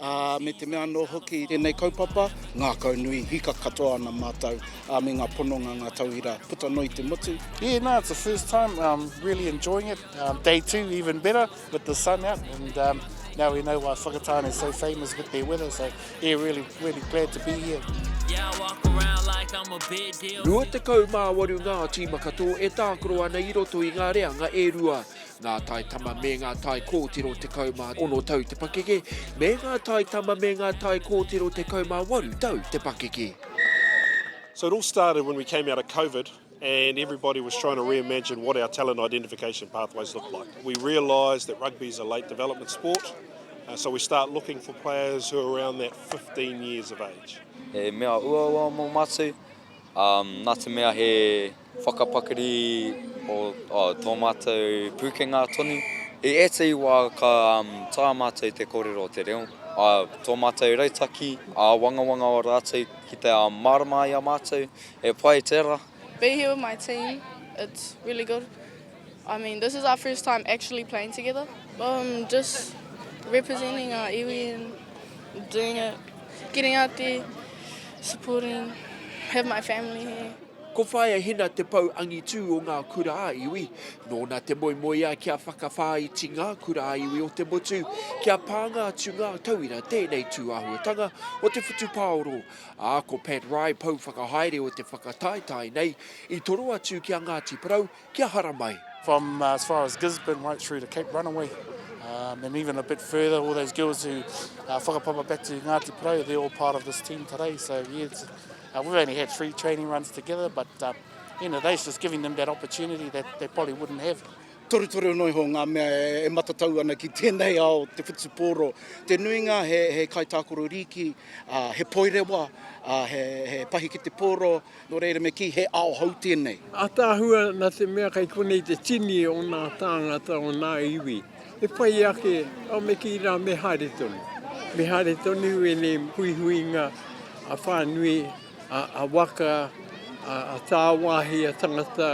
ā, me te mea anō hoki i tēnei kaupapa, ngākaunui, hika katoa ana mātou, ā, me ngā pononga, ngā tauira puta noa i te motu. Yeah, no, it's the first time, um, really enjoying it, um, day two even better with the sun out, and um, now we know why Whakatane is so famous with their weather, so yeah, really, really glad to be here. Yeah, I walk around like I'm a big deal. 28 ngā tīma katoa e tākaro ana i roto i ngā reanga e rua. Ngā tai tama me ngā tai kōtiro 16 tau te pakeke, me ngā tai tama me ngā tai kōtiro 18 tau te pakeke. So it all started when we came out of COVID and everybody was trying to reimagine what our talent identification pathways look like. We realised that rugby is a late development sport, uh, so we start looking for players who are around that 15 years of age. He mea uaua mō mātou, um, nā te mea he Whakapakari o tō mātou pūkenga tonu. I ētahi wā ka taea mātou i te kōrero o te reo, ā, tō mātou rautaki āwangawanga o rātou ki te mārama ai a mātou e pai tērā. Be here with my team it's really good I mean this is our first time actually playing together um just representing our iwi and doing it getting out there supporting have my family here. Ko Whaea Hina te pou angitū o ngā kura a iwi. Nōna te moemoeā kia whakawhāiti ngā kura a iwi o te motu, kia pānga atu ngā tauira tēnei tūāhuatanga o te whutupaoro, ā, ko Pat Rye pou whakahaere o te whakataetae nei, i toro atu ki a Ngāti Porou, kia hara mai. From as far as Gisborne right through to Cape Runaway um, and even a bit further, all those girls who uh, whakapapa back to Ngāti Parau, they're all part of this team today. So yeah, uh, we've only had three training runs together, but uh, you know, they're just giving them that opportunity that they probably wouldn't have. Toru toru no iho ngā mea e, e matatau ana ki tēnei ao te whutupōro. Te nuinga he, he kaitākoro rīki, uh, he poirewa, uh, he, he pahi ki te pōro, Nō reira me kī, he ao hou tēnei. Ataahua nā te mea kei konei te tini o ngā tāngata o ngā iwi. He pai ake, au me kī rā me haere tonu. Me haere tonu i ēnei huihuinga a whānui, a waka, a tāwāhi, a tangata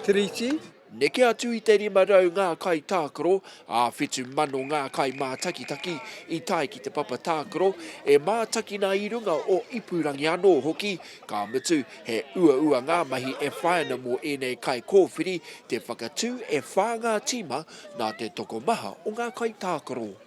Tiriti. Neke atu i te 500 ngā kaitākaro, ā, 7,000 ngā kaimātakitaki i tae ki te papa tākaro, e mātakina i runga o ipurangi anō hoki, ka mutu, he uaua ngā mahi e whai ana mō ēnei kaikōwhiri te whakatū e whā ngā tīma nā te tokomaha o ngā kaitākaro.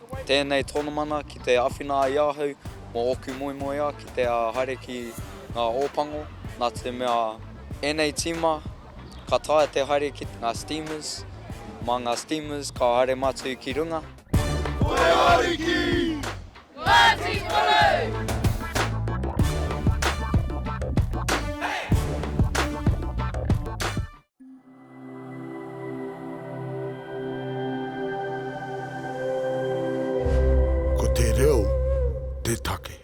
Tēnei tonomana ki te awhina ai ahau mo oku moemoea ki te haere ki nga Opango na te mea enei tima ka taea te haere ki nga steamers, ma nga steamers ka haere matou ki runga. Moe Ariki! Ngati Kuru! Ko te reo te take.